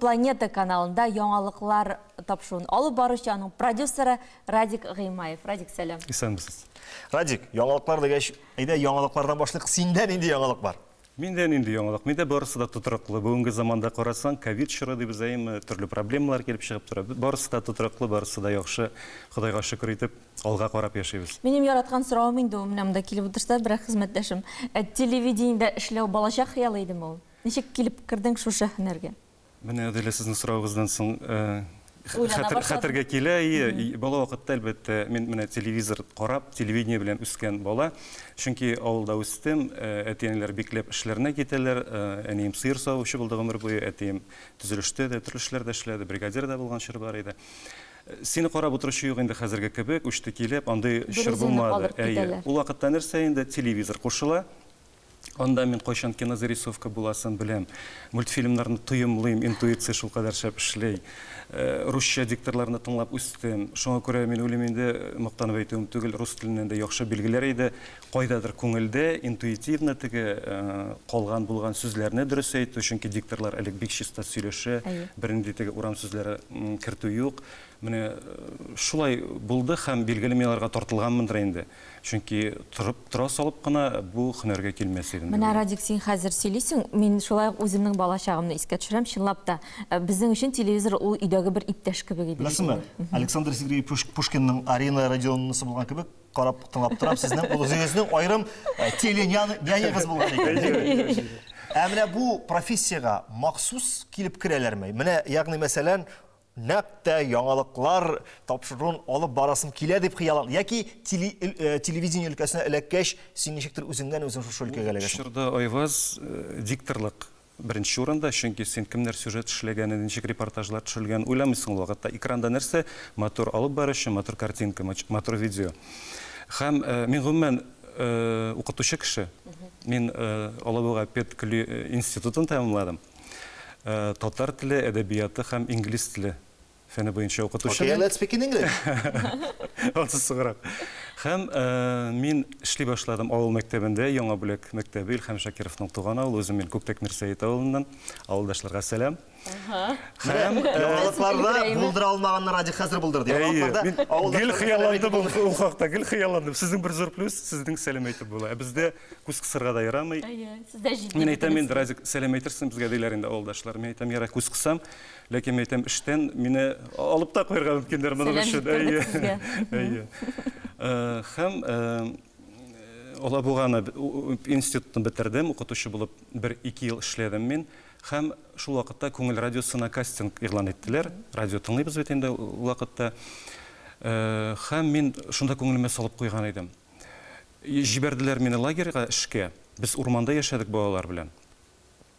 Планета каналында яңалыклар тапшыруын алып баручы, аның продюсеры Радик Гыймаев. Радик, сәлам. Исәнмесез. Радик, яңалыклар дигәч, әйдә яңалыклардан башлык. Синдә нинди яңалык бар? Миндә нинди яңалык? Миндә барысы да тотрыклы. Бүгенге заманда карасаң, ковид чоры дибез әйеме, төрле проблемалар килеп чыгып тора. Барысы да тотрыклы, барысы да яхшы. Ходайга шөкер итеп, алга карап яшибез. Минем яраткан соравым инде ул, менә монда килеп утырса, берәр хезмәттәшем. Э, телевидениедә эшләү балачак хыялы идеме ул? Ничек килеп кердең шушы һөнәргә? Менә Аделя сезнең соравыгыздан соң хәтергә килә. Бала вакытта, әлбәттә, мин менә телевизор карап, телевидение белән үскән бала. Чөнки авылда үстем, әти-әниләр бикләп эшләренә китәләр. Әнием сыер савучы булды гомер буе, әтием төзелештә дә, төрле эшләрдә эшләде, бригадир да булган чоры бар иде. Сине карап утыручы юк инде хәзерге кебек, үчте килеп, андый чор булмады. Ул вакытта нәрсә инде, телевизор кушыла, Анда мин кайчан кинозарисовка буласын беләм. Мультфильмнарны тоемлыйм, интуиция шулкадәр шәп эшли. Русча дикторларны тыңлап үстем. Шуңа күрә мин уйлыйм инде, мактанып әйтүем түгел, рус теленнән дә яхшы билгеләр иде. Кайдадыр күңелдә, интуитивно теге калган-булган сүзләрне дөрес әйтү, чөнки дикторлар элек бик чиста сөйләшә, бернинди теге урам сүзләре кертү юк. Менә шулай булды һәм, билгеле, мин аларга тартылганмындыр инде. Чөнки торып тора салып кына бу һөнәргә килмәс идем. Менә, Радик, син хәзер сөйлисең, мин шулай ук үземнең бала чагымны искә төшерәм. Чынлап та, безнең өчен телевизор ул өйдәге бер иптәш кебек иде. Беләсеңме, Александр Сергеевич Пушкинның Арина Родионовнасы булган кебек, карап, тыңлап торам, сезнең ул үзегезнең аерым теле-нянягыз булган икән. Ә менә бу профессиягә махсус килеп керәләрме? Менә, ягъни мәсәлән, нәкъ тә яңалыклар тапшыруын алып барасым килә дип хыяллан яки э, телевидение өлкәсенә эләккәч син ничектер үзеңнән үзең шушы өлкәгә эләгәсең чорда айваз э, дикторлык беренче урында чөнки син кемнәр сюжет эшләгәнен ничек репортажлар төшерелгәнен уйламыйсың ул вакытта экранда нәрсә матур алып баручы матур картинка матур видео һәм э, мин гомумән укытучы кеше мин алабуга педкли институтын тәмамладым Татар теле, әдәбияты һәм инглиз теле фәне буенча укытучы. Okay, let's speak in English. Аты сыграк. Һәм мин эшли башладым авыл мәктәбендә, Яңа бүләк мәктәбе, Илһам Шакировның туган авылы, үзем мин Күктәк Мирсәет авылыннан. Авылдашларга сәлам. Һәм яңалыкларда булдыра алмаганны Радик хәзер булдырды. Яңалыкларда авылда гел хыялландым ул хакта, гел хыялландым. Сезнең бер зур плюс, сезнең сәлам әйтеп була. Ә бездә күз кысырга да ярамый. Әйе, сез дә җитди. Мин әйтәм инде, Разик, сәлам әйтерсең безгә диләр инде авылдашлар. Мин әйтәм, яра күз кысам, ләкин мин әйтәм, эштән мине алып та куярга мөмкиннәр моның өчен. Әйе. Әйе. Э, һәм э, Алабуганы институтын бетердем, укытучы булып бер ике ел эшләдем мин. Һәм шул вакытта күңел радиосына кастинг игълан иттеләр. Радио тыңлыйбыз бит инде ул вакытта. Э, һәм мин шунда күңелемә салып куйган идем. Җибәрделәр мине лагерьга эшкә. Без урманда яшәдек балалар белән.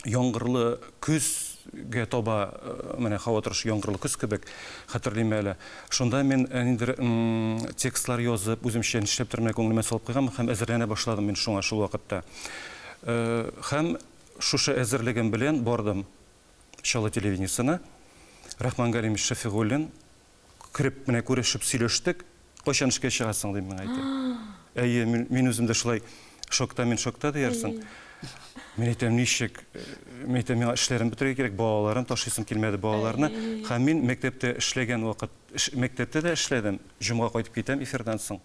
Яңгырлы көзгә таба, менә һава торышы яңгырлы көз кебек, хәтерлим әле. Шунда мин ниндидер текстлар язып, үземчә нишләптер менә күңелемә салып куйганмын һәм әзерләнә башладым мин шуңа шул вакытта. Һәм шушы әзерлегем белән бардым Чаллы телевидениесенә. Рахман Галимович Шәфигуллин. кереп менә күрешеп сөйләштек. Кайчан эшкә чыгасың дим миңа әйтә. Әйе, мин үзем дә шулай шокта мин шокта диярсең. Мин әйтәм, ничек? Мин әйтәм, миңа эшләрен бетерергә кирәк, балаларын ташыйсым килмәде, балаларны. Һәм мин мәктәптә эшләгән вакыт, мәктәптә дә эшләдем, җомга кайтып китәм эфирдан соң.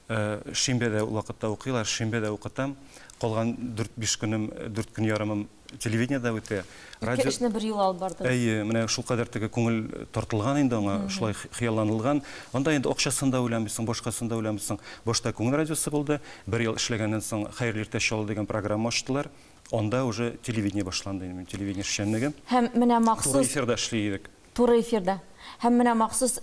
Э, шимбәдә вакытта укыйлар, шимбәдә укытам. Калган 4-5 көнем, 4 көн ярымым телевидениедә үтә. Ике эшне бер юлы алып барды. Әйе, менә шул кадәр теге күңел тартылган инде аңа, шулай хыялланылган. Анда инде акчасын да уйламыйсың, башкасын да уйламыйсың. Башта Күңел радиосы булды, бер ел эшләгәннән соң Хәерле иртә чалу дигән программа ачтылар. Анда уже телевидение башланды инде, минем телевидение эшчәнлегем. Һәм менә махсус. Туган эфирда эшли идек. Туры эфирда һәм менә махсус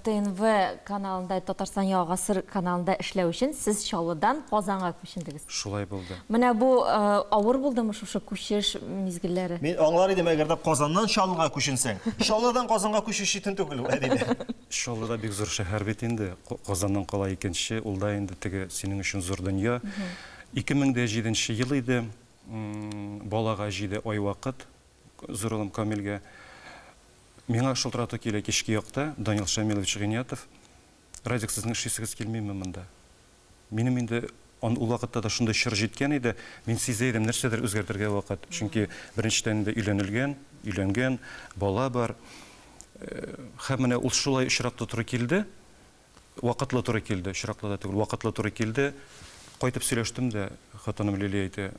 ТНВ каналында, Татарстан Яңа гасыр каналында эшләү өчен сез Чаллыдан Казанга күчендегез. Шулай булды. Менә бу авыр булдымы шушы күчеш мизгелләре? Мин аңлар идем, әгәр дә Казаннан Чаллыга күченсәң. Чаллыдан Казанга күчү читен түгел ул, әдибе. Чаллы да бик зур шәһәр бит инде. Казаннан кала икенче, ул да инде теге синең өчен зур дөнья. 2007 нче ел иде, балага җиде ай вакыт. Зур улым Камилгә миңа шылтырату килә кичке якта, Данил Шамилович Гыйниятов, Радик, сезнең эшлисегез килмиме монда? Минем инде ан ул вакытта да шундый чор җиткән иде, мин сизә идем, нәрсәдер үзгәртергә вакыт. Чөнки беренчедән инде өйләнелгән, өйләнгән, бала бар. Һәм менә ул шулай очраклы туры килде, вакытлы туры килде, очраклы да түгел, вакытлы туры килде. Кайтып сөйләштем дә, хатыным Лилия әйтә,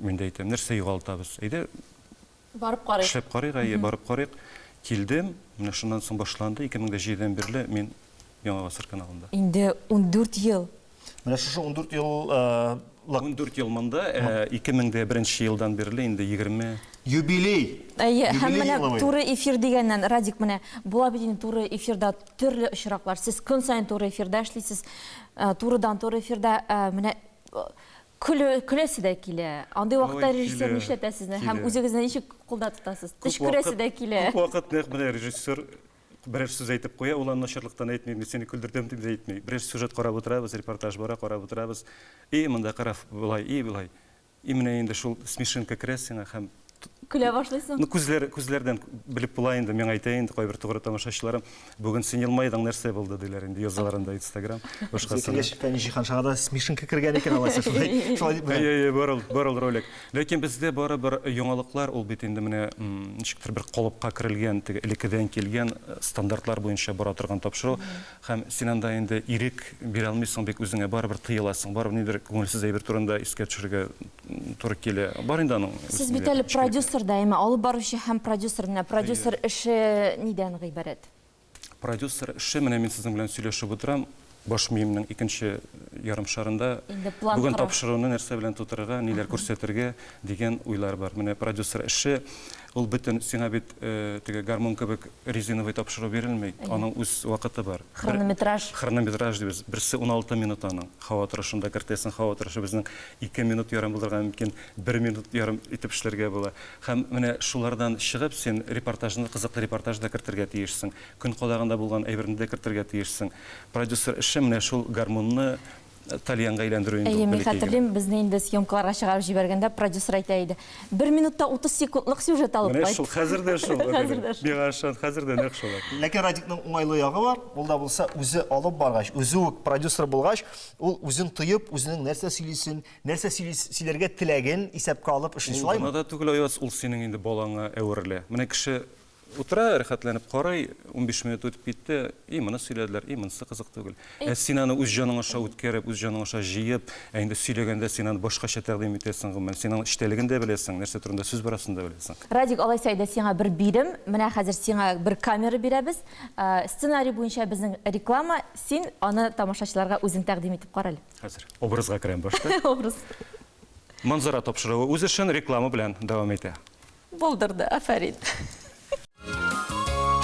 Мин дә әйтәм, нәрсә югалтабыз? Әйдә, барып карыйк. Эшләп карыйк, әйе, барып карыйк. Килдем, менә шуннан соң башланды. 2005 дән бирле мин Яңа гасыр каналында. Инде 14 ел. Менә шушы 14 ел 14 ел монда, 2001 елдан бирле инде 20 юбилей. Әйе, һәм менә туры эфир дигәннән, Радик, менә була бит инде туры эфирда төрле очраклар. Сез көн саен туры эфирда эшлисез, турыдан-туры эфирда. Менә Көлү, көләсе дә килә. Андый вакытта Ой, режиссер килә, нишләтә сезне һәм килә. үзегезне ничек кулда тотасыз? Күп Төш күрәсе вакыт, дә килә. күп вакыт нәкъ менә режиссер берәр сүз әйтеп куя, ул аны начарлыктан әйтми, мин сине көлдердем дип дә әйтми. Берәр сюжет карап утырабыз, репортаж бара, карап утырабыз. И, монда кара, болай, и, болай. И, менә инде шул смешинка керә сиңа һәм Көлә башлыйсың. Ну, күзләр, күзләрдән белеп була инде, миңа әйтә инде кайбер тугры тамашачыларым, бүген син елмайдың, нәрсә булды, диләр инде, язалар анда Инстаграм, башкасына. Яшьтән җиһаншага да смешинка кергән икән алайса, шулай, шулай дип. Әйе, әйе, бар ул, бар ул ролик. Ләкин бездә барыбер яңалыклар, ул бит инде менә, ничектер бер калыпка керелгән, теге элеккедән килгән стандартлар буенча бара торган тапшыру. Һәм син анда инде ирек бирә алмыйсың бит үзеңә, барыбер тыеласың, барыбер ниндидер күңелсез әйбер турында искә төшерергә туры килә. Бар инде аның. Сез бит әле продюсер да, әмма алып баручы һәм продюсер. Менә продюсер эше нидән гыйбарәт? Продюсер эше, менә мин сезнең белән сөйләшеп утырам, баш миемнең икенче ярым шарында бүген тапшыруны нәрсә белән тутырырга, ниләр күрсәтергә дигән уйлар бар. Менә продюсер эше Ул бөтен, сиңа бит теге гармун кебек резиновый тапшыру бирелми, аның үз вакыты бар. Хронометраж. Хронометраж дибез. Берсе уналты минут аның. Һава торышында кертәсең, һава торышы безнең ике минут ярым булырга мөмкин, бер минут ярым итеп эшләргә була. Һәм менә шулардан чыгып, син репортажны, кызыклы репортаж да кертергә тиешсең, көн кадагында булган әйберне дә кертергә тиешсең. Продюсер эше менә шул гармунны тальянга әйләндерү инде. Әйе, мин хәтерлим, безне инде съемкаларга чыгарып җибәргәндә продюсер әйтә иде. Бер минутта 30 секундлык сюжет алып кайт. Менә шул, хәзер дә шул. Миңа ышан, хәзер дә нәкъ шулай. Ләкин Радикның уңайлы ягы бар, ул да булса, үзе алып баргач, үзе үк продюсер булгач, ул үзен тоеп, үзенең нәрсә сөйлисен, нәрсә сөйләргә теләген исәпкә алып эшли, шулаймы? Ул гына да түгел, Аяз, ул синең инде балаңа әверелә. Менә кеше Утыра, рәхәтләнеп карый, унбиш минут үтеп китте, и моны сөйләделәр, и монысы кызык түгел. Ә син аны үз җаның аша үткәреп, үз җаның аша җыеп, ә инде сөйләгәндә син аны башкача тәкъдим итәсең, гомумән, син аның эчтәлеген дә беләсең, нәрсә турында сүз барасын да беләсең. Радик, алайса әйдә сиңа бер бирем, менә хәзер сиңа бер камера бирәбез, сценарий буенча безнең реклама, син аны тамашачыларга үзең тәкъдим итеп кара әле. Хәзер образга керәм башта. Образ. Манзара тапшыруы үз эшен реклама белән дәвам итә. Булдырды, афәрин!